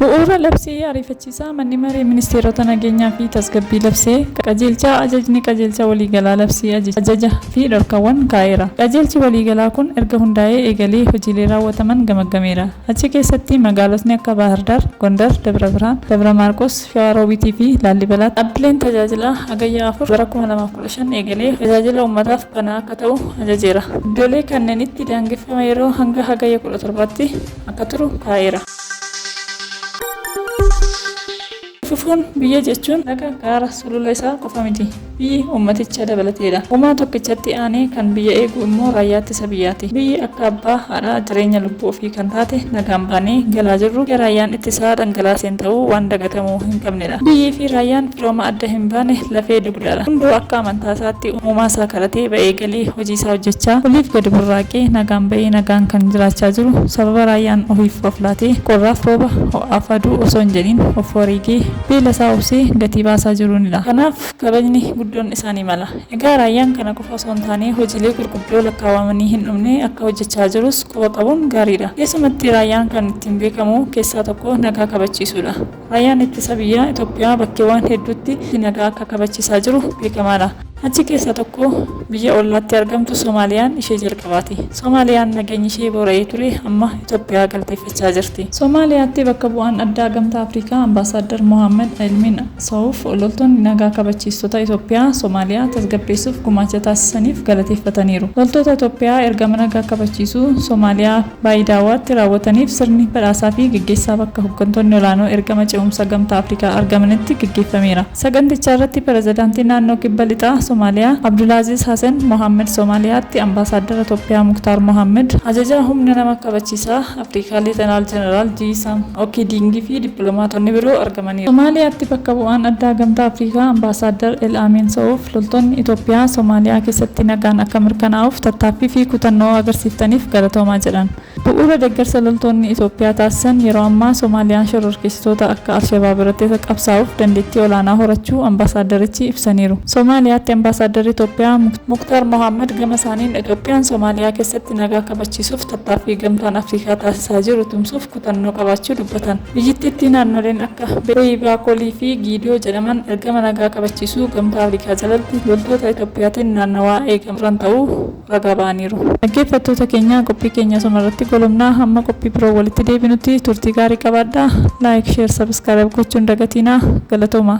Bu'uura labsii ariifachiisaa manni maree ministeerota nageenyaa fi tasgabbii labsee qajeelchaa ajajni qajeelcha waliigalaa labsii ajaja fi dhorkawwan kaa'eera. Qajeelchi waliigalaa kun erga hundaa'ee eegalee hojiilee raawwataman gamaggameera. Achi keessatti magaalotni akka Baahirdaar, Gondar, Dabra Birhaan, Dabra Maarqos, Shawaa Roobiitii fi Laallibalaatti dhaabbileen tajaajilaa Hagayya 4 bara 2015 eegalee tajaajila uummataaf banaa akka ta'u ajajeera. Iddoolee kannenitti daangeffama yeroo hanga Hagayya 17tti akka turu kaa'eera. Fufuun biyya jechuun laga gaara sulula isaa qofa miti. Biyyi uummaticha dabalateedha. Uumaa tokkichatti aanee kan biyya eegu immoo raayyaa ittisa biyyaati. Biyyi akka abbaa, haadhaa, jireenya lubbuu ofii kan taate nagaan baanee galaa jirru dhiiga raayyaan ittisaa dhangalaaseen ta'uu waan dagatamuu hin qabnedha. Biyyii fi raayyaan firooma adda hin baane lafee dugdaadha. Hunduu akka amantaa isaatti uumaa isaa kadhatee ba'ee galii hojii isaa hojjechaa, oliif gadi burraaqee nagaan ba'ee nagaan kan jiraachaa jiru sababa raayyaan ofiif of laatee qorraaf rooba, ho'aaf aduu osoo hin jedhiin of wareegee beela isaa obsee gatii baasaa jiruuni dha. Kanaaf kabajni guddoon isaanii mala. Egaa raayyaan kana qofa osoo hin taanee hojiilee gurguddoo lakkaawamanii hin dhumne akka hojjechaa jirus quba qabuun gaarii dha. Keessumatti raayyaan kan ittiin beekamu keessaa tokko nagaa kabachiisuu dha. Raayyaan Ittisa Biyyaa Itoophiyaa bakkeewwaan hedduutti nagaa akka kabachiisaa jiru beekamaadha. Achi keessaa tokko biyya ollaatti argamtu Somaaliyaan ishee jalqabaati. Somaaliyaan nageenyi ishee boora'ee ture amma Itoophiyaa galateeffachaa jirti. Somaaliyaatti bakka bu'aan addaa Gamtaa Afrikaa Ambaasaaddar Mohaammad Elmiin Sawuuf loltoonni nagaa kabachiistota Itoophiyaa Somaaliyaa tasgabbeessuuf gumaacha taasisaniif galateeffataniiru. Loltoota Itoophiyaa ergama nagaa kabachiisuu Somaaliyaa Baayidaawaatti raawwataniif sirni badhaasaa fi geggeessaa bakka hoggantoonni olaanoo ergama ce'umsa Gamtaa Afrikaa argamanitti geggeeffameera. Sagantichaarratti Pirezidaantii Naannoo Kibba Lixaa Somaaliyaa Abdulaaziiz Hasen Mohaammed, Somaaliyaatti Ambaasaaddara Toophiyaa Muktaar Mohaammed, Ajajaa Humna Nama Kabachiisaa Afrikaa Leetanaal Jeneraal Jiisaam Okidiingi fi dippilomaatonni biroo argamaniiru. Somaaliyaatti bakka bu'aan addaa Gamtaa Afrikaa Ambaasaaddar El Amiin So'uuf loltoonni Itoophiyaa Somaaliyaa keessatti nagaan akka mirkanaa'uuf tattaaffii fi kutannoo agarsiiftaniif galatoomaa jedhan. Bu'uura deeggarsa loltoonni Itoophiyaa taasisan yeroo ammaa Somaaliyaan shororkeessitoota akka Alshabaab irratti qabsaa'uuf dandeettii olaanaa horachuu ambaasaaddarichi ibsaniiru. Somaaliyaatti ambaasaaddarri Itoophiyaa Muktaar Mohaammad gama isaaniin Itoophiyaan Somaaliyaa keessatti nagaa kabachiisuuf tattaaffii Gamtaan Afrikaa taasisaa jiru tumsuuf kutannoo qabaachuu dubbatan. Biyyittiitti naannoleen akka Beeyi, Baakoolii fi Giidiyoo jedhaman ergama nagaa kabachiisuu Gamtaa Afrikaa jalatti loltoota Itoophiyaatiin naannawaa eegamaa turan ta'uu ragaa ba'aniiru. Dhaggeeffattoota keenya qophii keenya asuma irratti golobna. Hamma qophii biroon walitti deebinutti turtii gaarii qabaadhaa. Like, Share, Subscribe gochuu hin dagatiinaa. Galatoomaa!